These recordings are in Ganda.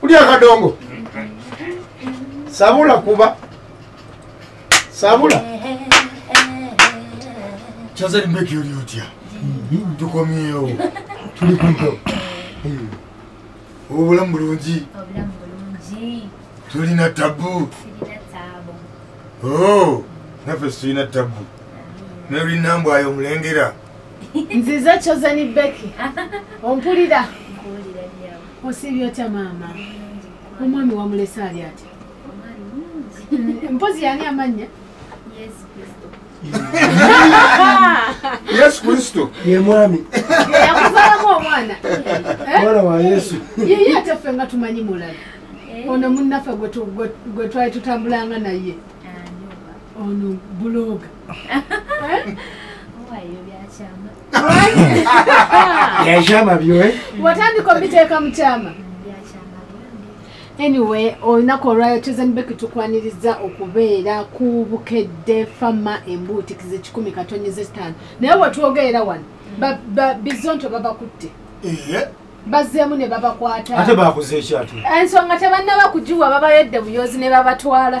kuli akadongo sabula kuba sabula kyazali mbeki oli otya tukomyewo tuli kumpewo obulamu bulungi tulina tabu oh, naffe situlina tabu naye olina mbwayo omulengera nziza kyozani beki ompulira osiibye otya maama omwami wamulese ali atya mpozi yani amanya yesu kristo ye mwami yakuzalamu omwana eh? mwana wa yesu yeye ate ffe nga tumanyi mulala eh? ono munnaffe gwe twali tutambulanga naye ah, ono buloga yakyama byo eh? watandika obiteeka mu kyama anyway olunaku olwayo tuzanibeki tukwaniriza okubeera ku bukedde fama embuutikizi kikumi katonyi zetaano naye wetwogerera wano bizonto babakutte bazzeemu ne babakwata ate bakuze ekyatu ensonga tebanna bakugiwa babayedde buyozi ne babatwala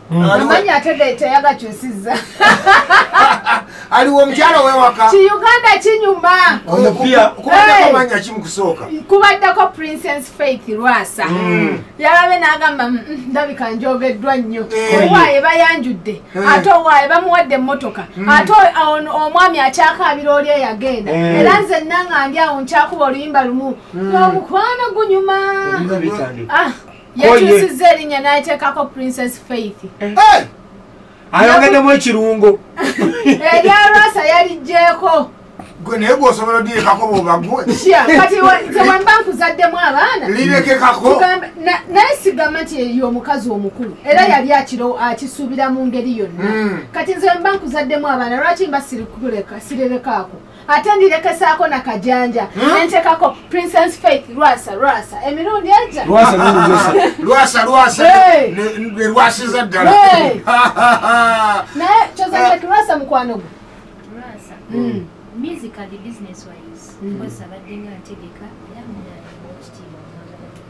amanyi ate date yagakyusiza aliwo omukyala wewaka ki uganda kinyuma kubaddeko eh. kimukusooka kubaddeko princess faith lwasa mm. yalabe nagamba mm, mm, ndabika njogeddwa nnyo eh. owaaye bayanjudde eh. ate owaaye bamuwadde emmotoka ate omwami akyakaabira oli eyagenda era nze nanga ndi awo nkyakuba oluyimba lumu n'omukwano gunyuma ah. yakyusizza erinnya n'ateekako princess faith eh! ayongeddemu ekirungo erya rasa yalijjeeko gwe naye gwosobola odirekako bobagwe kati tewemba nkuzaddemu abaana lirekekako naye sigamba nti eyo omukazi omukulu era hmm. yali akiro akisuubira mu ngeri yonna hmm. kati nze wemba nkuzaddemu abaana lwaki mba sirikuleka sirerekaako ate ndirekesaako na kajanja hmm? nentekako princess faith lwasa lwasa emirundi eja lwasa lwasa lwasiza ddala naye kyozaki lwasa mukwano gwe hmm. musically business wise hmm. because abadde nga ntegeka era munange okitiibwa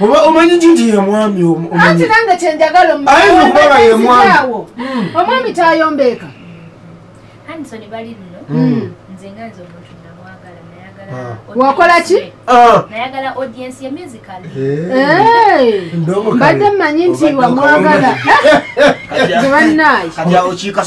oba omanyi ki nti yemwami anti nange kyenjagala omukubaga yemwami hmm. omwami tayombeeka hmm. ah. wakola ki ah. mbadde mmanyi nti wamwagala zebannaye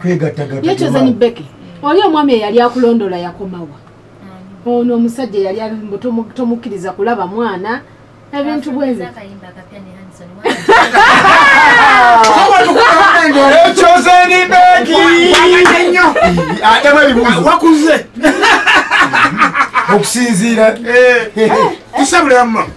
kwegattagattayekyozenibeke oli omwami eyali akulondoola yakomawa ono omusajja eyali alimbu tomukkiriza kulaba mwana ebintu bwezi okusinziira eh. eh. eh. tusabulama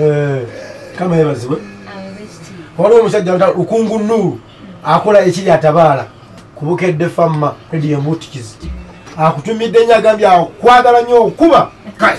Eh, kama yebazibwe waliwo omusajja nta lukungu nuulu akola ekiri atabaala kubukedde famma rediyo mutikizi akutumidde nyo agambye akwagala nyo okuba kale